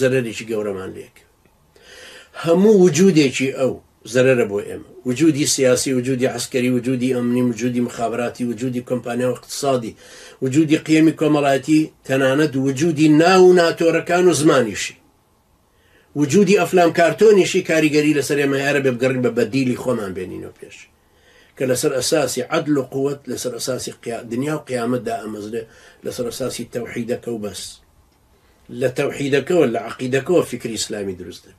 زەرەرێکی گەورەمان لێکرد هەموو وجودێکی ئەو زەرەرە بۆ ئێمە وجودی سیاسی وجودی عسکەری وجودی ئەمنی وجودی مخابراتی وجودی کۆمپانیا و اقتصادی وجودی قیەمی کۆمەڵایەتی تەنانەت وجودی ناو و ناتۆرەکان و زمانیشی وجودی ئەفلام کارتۆنیشی کاریگەری لەسەر ئێمە هەرە بێ بگەڕین بە بەدیلی خۆمان بێنینەوە پێش کە لەسەر ئەساسی عدل و قوت لەسەر ئەساسی دنیا و قیامەتدا ئەمەزرێ لەسەر ئەساسی تەوحیدەکە و بەس لە تەوحیدەکەوە لە عەقیدەکەوە فیکری ئیسلامی دروستە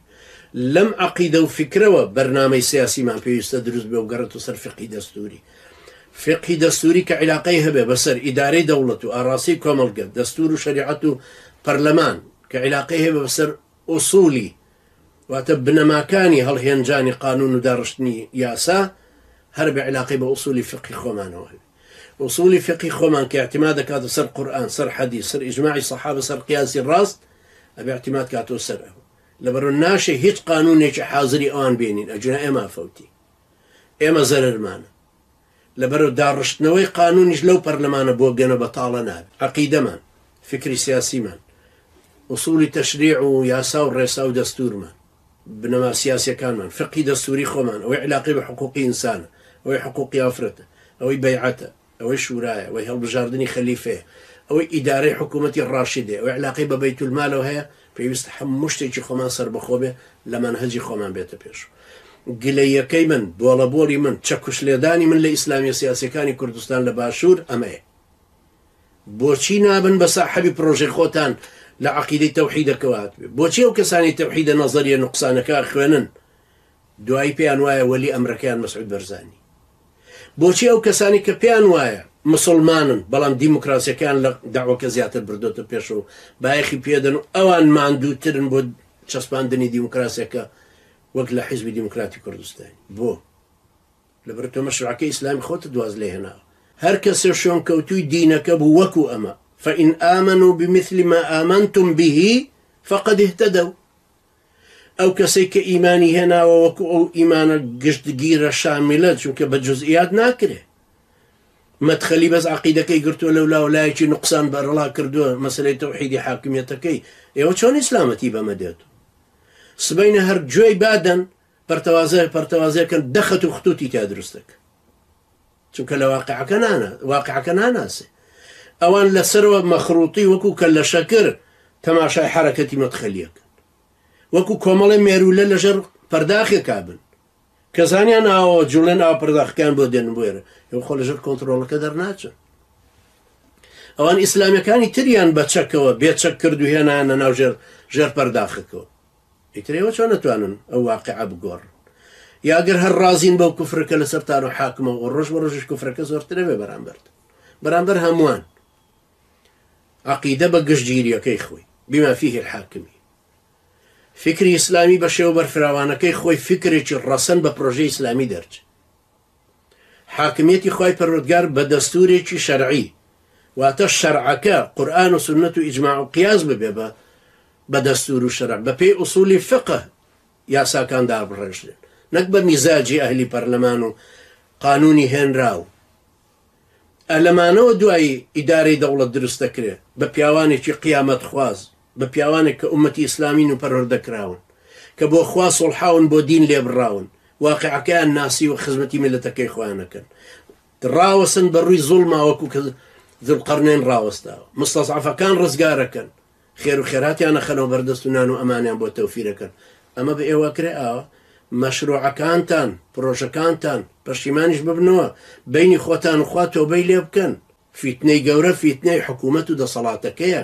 لەم عەقیدە و فیکرەوە بەرنامەی سیاسیمان پێویستە دروست بێ و گەڕێت و سەر فقی دەستوری فقی دەستوری کە عیلاقەی هەبێ بەسەر ئیدارەی دەوڵەت و ئاراسی کۆمەڵگە دەستور و شریعەت و پەرلەمان کە عیلاقەی هەبێ بەسەر ئۆسولی واتە بنەماکانی هەڵهێنجانی قانون و داڕشتنی یاسا هەر بە عیلاقەی بە ئوسولی فقی خۆمانەوە هەبێ ئوسولی فقی خۆمان کە اعتماد دەکاتە سەر قورئان سەر حەدیس سەر اجماعی صحابە سەر قیاسی ڕاست ئەبێ اعتماد کاتەوە سەر ئەو لەبەرو ناشێ هیچ قانونێکی حازری ئەوان بێنین ئەجونا ئێمە فەوتی ئێمە زەرەرمانە لەبەرو داڕشتنەوەی قانونیش لەو پەرلەمانە بۆ گەنە بەتاڵە نابێت عقیدەمان فکری سیاسیمان ئوسولی تەشریع و یاسا و ڕێسا و دەستورمان بنەما سیاسیەکانمان، فقهی دەستوری خۆمان، ئەوەی علاقەی بە حقوقی ئینسانە، ئەوەی حقوقی ئافرەتە، ئەوەی بەیعەتە، ئەوەی شورایە، ئەوەی هەڵبژاردنی خەلیفەیە، ئەوەی ئیدارەی حکومەتی ڕاشدەیە، ئەوەی علاقەی بە بەیت المالەوە هەیە، پێویستە هەموو شتێکی خۆمان سەربەخۆ بێ، لە مەنهەجی خۆمان بێتە پێش. گلەییەکەی من، بۆڵەبۆڵی من، چەکوشلێدانی من لە ئیسلامیە سیاسیەکانی کوردستان لە باشور ئەمەیە. بۆچی نابن بە ساحەبی پرۆژەی خۆتان لە عەقیدەی تەوحیدەکەوە هاتبێ بۆچی ئەو کەسانی تەوحیدە نەزەریە نوقسانەکە خوێنن دوایی پێیان وایە وەلی ئەمرەکەیان مەسعود بەرزانی بۆچی ئەو کەسانی کە پێیان وایە مسلمانن بەڵام دیموکراسیەکان لە داوەکە زیاتر بردۆتە پێش و بایەخی پێدەن و ئەوان ماندووترن بۆ چەسپاندنی دیموکراسیەکە وەک لە حیزبی دیموکراتی کوردستانی بۆ لەبەر تۆ مەشرەعەکەی ئیسلامی خۆتت واز لێ هێناوە. هەر کەسێ شوێنکەوتووی دینەکە بوو وەکو ئەمە، فان آمنوا بمثل ما آمنتم به فقد اهتدوا، ئەو کەسەی کە ئیمانی هێناوە وەکو ئەو ئیمانە گشتگیرە شاملە، چونکە بە جزئیات ناکرێ. مەدخەلی بەس عەقیدەکەی گرتووە لەولا و لایەکی نوقسان بەرەڵا کردووە مەسەلەی تەوحیدی حاکمیەتەکەی، ئێوە چۆن ئیسلامەتی بەمە دێت؟ سبەینێ هەر گوێی با دەن پەرتەوازە پەرتەوازە کەن دە خەت و خطوتی تیا دروستە کە چونکە لە واقعەکە نانە واقعەکە ناناسێ ئەوان لەسەرەوە مەخروتی وەکو کە لە شەکر تەماشای حرەکەتی مەتخەلیەکە وەکو کۆمەڵی مێرولە لەژەر پەرداخێکا بن کە زانیان ئاوە جوڵێن ئاو پەرداخەکان بۆ دێن بێرە ئەو خۆ لەژەر کۆنتترۆڵەکە دەرناچن ئەوان ئیسلامەکانی تریان بە چەکەوە بێچەک کرد و هێنانە ناو ژێر ژێر پەرداخەکەەوە ئیتر ئێوە چۆن ئەتوانن ئەو واقیعە بگۆڕن؟ یا گەر هەر ڕازین بەو کوفرە کە لەسەرتان و حاکمە و ڕۆژ بە ڕۆژیش کوفرەکە زۆرتر ئەبێ بەرامبەرتان، بەرامبەر هەمووان. عەقیدە بە گشتگیرییەکەی خۆی، بما فیه الحاکمی. فیکری ئیسلامی بە شێوە بەرفراوانەکەی خۆی، فیکرێکی ڕەسەن بە پرۆژەی ئیسلامی دەرچێ. حاکمیەتی خوای پەروەردگار بە دەستورێکی شەرعی واتە شەرعەکە قورآن و سنت و ئیجماع و قیاس ببێ بە بە دەستور و شەرع بە پێی ئوسولی فقه یاساکان دابڕێژرێن نەک بە میزاجی ئەهلی پەرلەمان و قانونی هێنراو ئەلەمانەوە دوایی ئیدارەی دەوڵەت دروست دەکرێت بە پیاوانێکی قیامەت خوازی بە پیاوانێک کە ئومەتی ئیسلامین و پەروەردە کراون کە بۆ خوا سوڵحاون بۆ دین لێبڕاون واقعەکەیان ناسیوە خزمەتی میللەتەکەی خۆیان ئەکەن ڕاوەسن بە ڕووی زوڵما وەکو کە ذوالقرنین ڕاوەستاوە مستەزعەفەکان ڕزگارەکەن خێر و خێراتیانە خەنەوە بەردەست و نان و ئەمانیان بۆ تەوفیرەکەن ئەمە بە ئێوە کرێ ئاوە مەشروعەکانتان پرۆژەکانتان پەشیمانیش ببنەوە بینی خۆتان و خوا تۆبەی لێ بکەن فیتنەی گەورە فیتنەی حکوومەت و دەسەڵاتەکەیە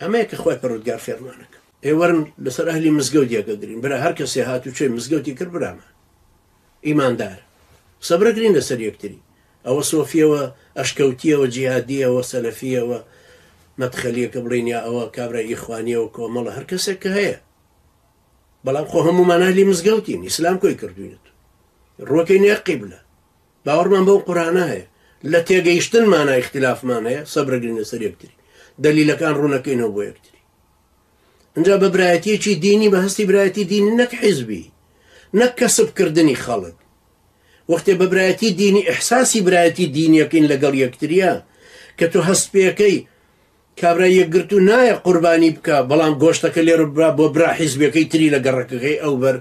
ئەمەیە کە خوای پەروەردگار فێرمانەکا. ئێ وەرن لەسەر ئەهلی مزگەوت یەکە گرین برا هەر کەسێ هات و چۆی مزگەوتی کرد برامان ئیماندار قسە برە گرین لەسەر یەکتری ئەوە سۆفیەوە ئەشکەوتیەوە جیهادیەوە سەلەفیەوە مەدخەلیەکە بڵین یا ئەوە کابرا ئیخوانیەوە کۆمەڵە هەر کەسێک کە هەیە بەڵام خۆ هەمومان ئەهلی مزگەوتین ئیسلام کۆی کردوینەت ڕۆکەی نێ قیبلە باوەڕمان بەو قورئانە هەیە، لە تێگەیشتنمانا ئیختیلافمان هەیە، سەبرەگرین لەسەر یەکتری، دەلیلەکان ڕوونەکەینەوە بۆ یەکتری. ئینجا بە برایەتییەکی دینی، بە هەستی برایەتی دینی نەک حیزبی، نەک کەسب کردنی خەڵک، وەختێ بە برایەتی دینی ئیحساسی برایەتی دینییەکەین لەگەڵ یەکتریا، کە تۆ هەست پێکەی کابرای یەکگرتوو نایە قوربانی بکا، بەڵام گۆشتەکە لێرە ببا بۆ برا حیزبیەکەی تری لە گەڕەکەکەی ئەوبەر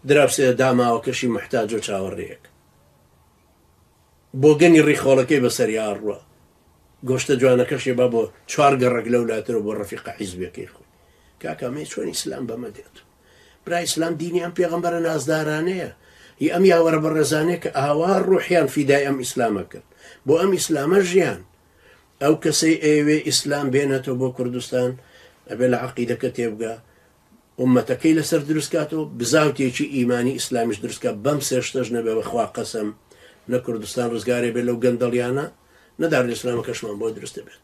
دراوسێ داماوەکەشی موحتاجو چاوەڕێیەک. بۆگەنی ڕیخۆڵەکەی بەسەری ئاڕوە گۆشتە جوانەکەشێ با بۆ چوار گەڕک لەو لاترەوە بۆ ڕەفیقە حیزبەکەی خۆی کاکامەی چۆن ئیسلام بەمە دێت برا ئیسلام دینی ئەم پێغمبەرە نازدارانەیە هی ئەم یاوەرە بە ڕێزانەیە کە ئاوا ڕوحیان فیدای ئەم ئیسلامە کرد بۆ ئەم ئیسلامە ژیان ئەو کەسەی ئەوێ ئیسلام بێنێتەوە بۆ کوردستان ئەبێ لە عقیدەکە تێبگە ئوممەتەکەی لەسەر دروست کاتەوە بزاوتێکی ئیمانی ئیسلامیش دروست کات بەم سێ شتەش نەبێ بەخوا قەسەم نە کوردستان ڕزگارێ بێ لەو گەندەڵیانە نە دارولئیسلامەکەشمان بۆ دروست دەبێت